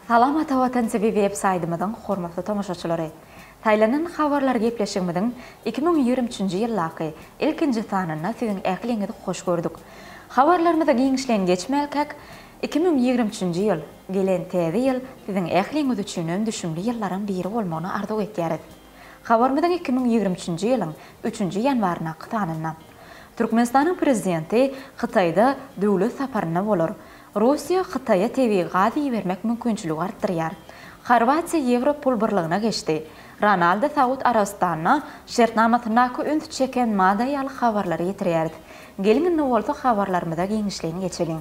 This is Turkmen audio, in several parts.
Salam Ata Watan TV web saýtymyzyň hormatly tomaşaçylary! Saýlanan habarlar gepleşigimiziň iki müň ýigrimi üçünji ýyldaky ilkinji sanynda siziň ähliňizi hoş gördük. Habarlarymyza giňişleýin geçmälkäk, iki müň ýigrimi üçünji ýyl, gelen Täze ýyl siziň ähliňiz üçinem düşümli ýyllaryň biri bolmagyny arzuw etýäris. Habarymyzyň iki müň ýigrimi üçünji ýylyň üçünji ýanwaryndaky sanynda, Türkmenistanyň Prezidenti Hytaýda döwlet saparynda bolar. Russiýa Hytaýa tebigy gazy ibermek mümkinçiligi artdyrýar. Horwatiýa Ýewro pul birligine geçdi. Ronaldo Saud Arabystanyna şertnamasyndaky üns çeken madda ýaly habarlary ýetirýäris. Geliň indi bolsa habarlarymyza giňişleýin geçeliň.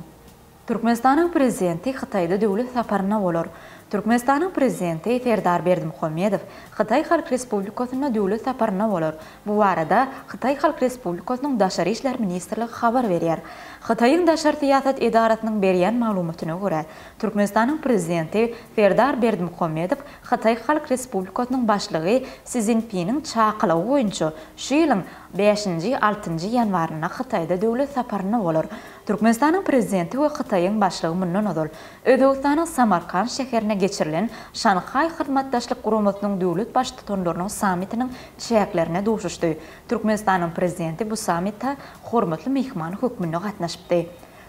Türkmenistanyň Prezidenti Hytaýda döwlet saparynda bolar. Türkmenistanyň Prezidenti Serdar Berdimuhamedow Hytaý Halk Respublikasynda döwlet saparynda bolar. Bu barada Hytaý Halk Respublikasynyň Daşary işler ministrligi habar berýär. Hytaýyň daşary syýasat edarasynyň berýän maglumatyna görä, Türkmenistanyň Prezidenti Serdar Berdimuhamedow Hytaý Halk Respublikasynyň Başlygy Si Szinpiniň çakylygy boýunça şu ýylyň bäşinji, altynjy ýanwarynda Hytaýda döwlet saparynda bolar. Türkmenistanyň Prezidenti we Hytaýyň Başlygy mundan ozal, Özbegistanyň Samarkant şäherinde geçirilen Şanhaý Hyzmatdaşlyk Guramasynyň döwlet Baştutanlarynyň sammitiniň çäklerinde duşuşdy. Türkmenistanyň Prezidenti bu sammite hormatly myhman hökmünde gatnaşypdy.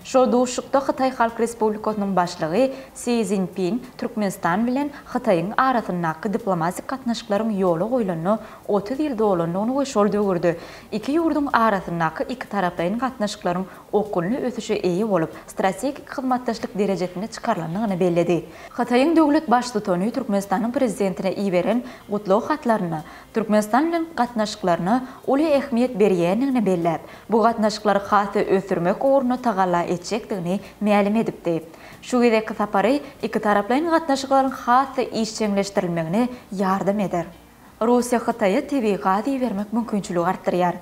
Şol duşuşykda Hytaý Halk Respublikasynyň Başlygy Si Szinpin Türkmenistan bilen Hytaýyň arasyndaky diplomatik gatnaşyklaryň ýola goýlanyna otuz ýyl dolandygyny we şol döwürde Iki ýurduň arasyndaky ikitaraplaýyn gatnaşyklaryň okgunly ösüşe eýe bolup, strategik hyzmatdaşlyk derejesine çykarylandygyny belledi. Hytaýyň döwlet Baştutany Türkmenistanyň Prezidentine iberen gutlag hatlarynda Türkmenistan bilen gatnaşyklaryna uly ähmiýet berýändigini belläp, bu gatnaşyklary has-da ösdürmek ugrunda tagalla etjekdigini mälim edipdi. Şu gezekki sapary ikitaraplaýyn gatnaşyklaryň has-da işjeňleşdirilmegine ýardam eder. Russiýa Hytaýa tebigy gaz ibermek mümkinçiligi artdyrýar.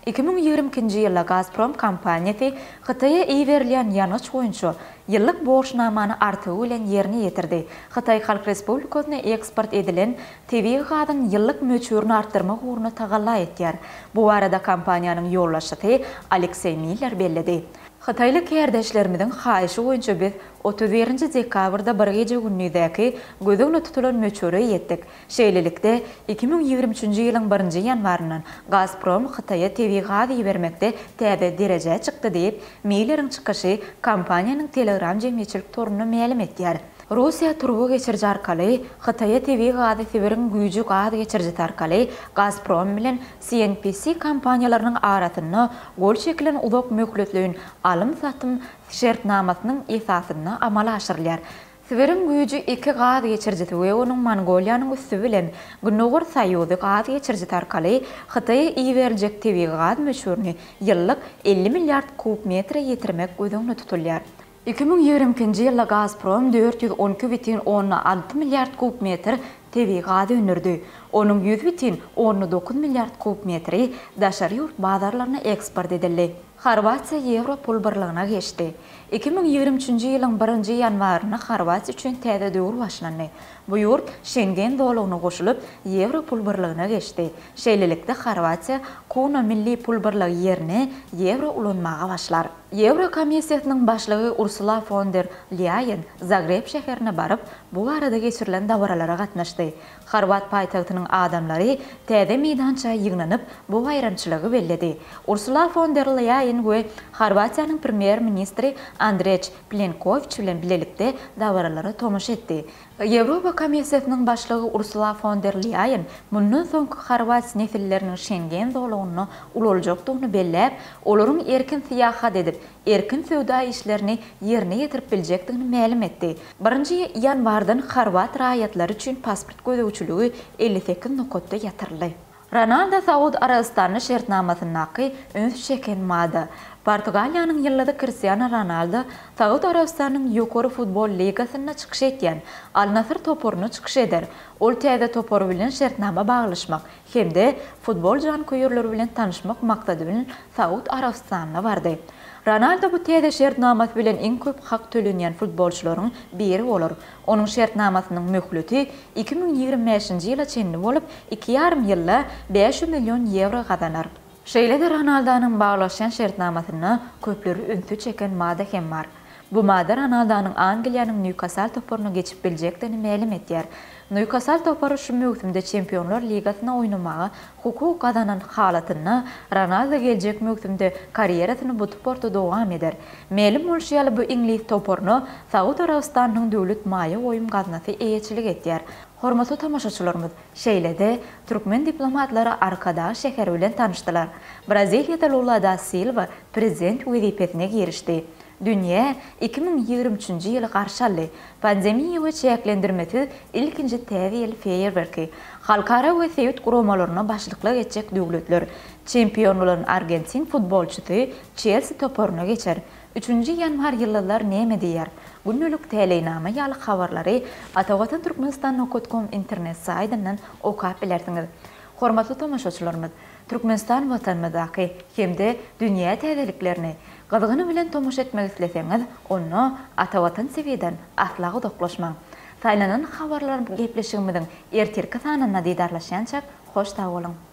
Iki müň ýigrimi ikinji ýylda Gazprom kompaniýasy Hytaýa iberilýän ýangyç boýunça ýyllyk borçnamany artygy bilen ýerine ýetirdi, Hytaý Halk Respublikasyna eksport edilen tebigy gazyň ýyllyk möçberini artdyrmak ugrunda tagalla etýär. Bu barada kompaniýanyň ýolbaşçysy Alekseý Miller belledi. Hytaýly kärdeşlerimiziň haýyşy boýunça biz otuz birinji dekabrda bir gije-gündizeki göz öňünde tutulan möçbere ýetdik. Şeýlelikde, iki müň ýigrimi üçünji ýylyň birinji ýanwaryndan Gazprom Hytaýa tebigy gaz ibermekde täze derejä çykdy diýip, Milleriň çykyşy kompaniýanyň Telegram jemgyýetçilik torunda mälim edýär. Russiýa turba geçiriji arkaly Hytaýa tebigy gazy Sibiriň güýji gaz geçirijisi arkaly Gazprom bilen CNPC kompaniýalarynyň arasynda gol çekilen uzak möhletleýin alym-satym şertnamasynyň esasynda amala aşyrylýar. Sibiriň güýji iki gaz geçirijisi we onuň Mongoliýanyň üsti bilen Gündogar Soýuzy gaz geçirijisi arkaly Hytaýa iberiljek tebigy gaz möçberini ýyllyk elli milliard kub metre ýetirmek göz öňünde tutulýar. Iki müň ýigrimi ikinji ýylda Gazprom dört ýüz on iki bütin onna alty milliard kub metr tebigy gaz öndürdi, onuň ýüz bütin onna dokuz milliard kub metri daşary ýurt bazarlaryna eksport edildi. Horwatiýa ýewro pul birligine geçdi. Iki müň ýigrimi üçünji ýylyň birinji ýanwarynda Horwatiýa üçin täze döwür başlandy. Bu ýurt Şengen zolagyna goşulyp, ýewro pul birligine geçdi. Şeýlelikde, Horwatiýa Kuna milli pul birligi ýerine ýewro ulanmaga başlar. Ýewro komissiýasynyň başlygy Ursula fon der Lýaýen Zagreb şäherine baryp, bu barada geçirilen dabaralara gatnaşdy. Horwat paýtagtynyň adamlary täze meýdança ýygnanyp, bu baýramçylygy belledi. Ursula fon der Leýen we Horwatiýanyň premýer-ministri Andreç Plenkowiç bilen bilelikde dabaralara tomaşa etdi. Ýewropa Komissiýasynyň başlygy Ursula fon der Leýen mundan soňky horwat nesilleriniň Şengen zolagyna ulaljakdygyny belläp, olaryň erkin syýahat edip, erkin söwda işlerini ýerine ýetirip biljekdigini mälim etdi. Birinji ýanwardan horwat raýatlary üçin pasport gözegçiligi elli sekiz nokatda ýatyryldy. Ronaldo Saud Arabystanly şertnamasyndaky üns çeken mada. Portugaliýanyň ýyldyzy Kristiano Ronaldo Saud Arabystanynyň Ýokary futbol ligasynda çykyş etýän Al-Nasr toparyna çykyş eder. Ol täze topar bilen şertnama baglaşmak hem-de futbol janköýerleri bilen tanyşmak maksady bilen Saud Arabystanyna bardy. Ronaldo bu täze şertnamasy bilen iň köp hak tölenýän futbolçylaryň biri bolar. Onuň şertnamasynyň möhleti iki müň ýigrimi bäşinji ýyla çenli bolup, iki ýarym ýylda bäş ýüz million ýewro gazanar. Şeýle-de Ronaldonyň baglaşýan şertnamasynda köpleri ünsi çeken madda hem bar. Bu madda Ronaldonyň Angliýanyň Nýukasal toparyna geçip biljekdigini mälim edýär. Nýukasal topary şu möwsümde Çempionlar ligasyna oýnamaga hukuk gazanan halatynda Ronaldo geljek möwsümde karýerasyny bu tporda dowam eder. Mälim bolşy ýaly bu iňlis toparyna Saud Arabystanynyň döwlet maýa goýum gaznasy eýeçilik edýär. Hormatly tomaşaçylarymyz! Şeýle-de, türkmen diplomatlary Arkadag şäheri bilen tanyşdylar. Braziliýada Lula da Silwa prezident wezipesine girişdi. Dünýä iki müň ýigrimi üçünji ýyly garşy aldy. Pandemiýa we çäklendirmesiz ilkinji Täze ýyl feýerwerki, halkara we sebit guramalaryna başlyklyk etjek döwletler, çempion bolan argentin futbolçysy Çelsi toparyna geçer, Üçünji ýanwar ýyldyzlar näme diýer? Gündelik täleýnama ýaly habarlary Atavatan Türkmenistan Nokat Kom internet saýtyndan okap bilersiňiz. Hormatly tomaşaçylarymyz, Türkmenistan Watanymyzdaky hem-de dünýä täzeliklerine gyzgyny bilen tomaşa etmek isleseňiz, onda Atavatan TV-den asla uzaklaşmaň. Saýlanan habarlar gepleşigimiziň ertirki sanynda didarlaşýançak hoş sag boluň!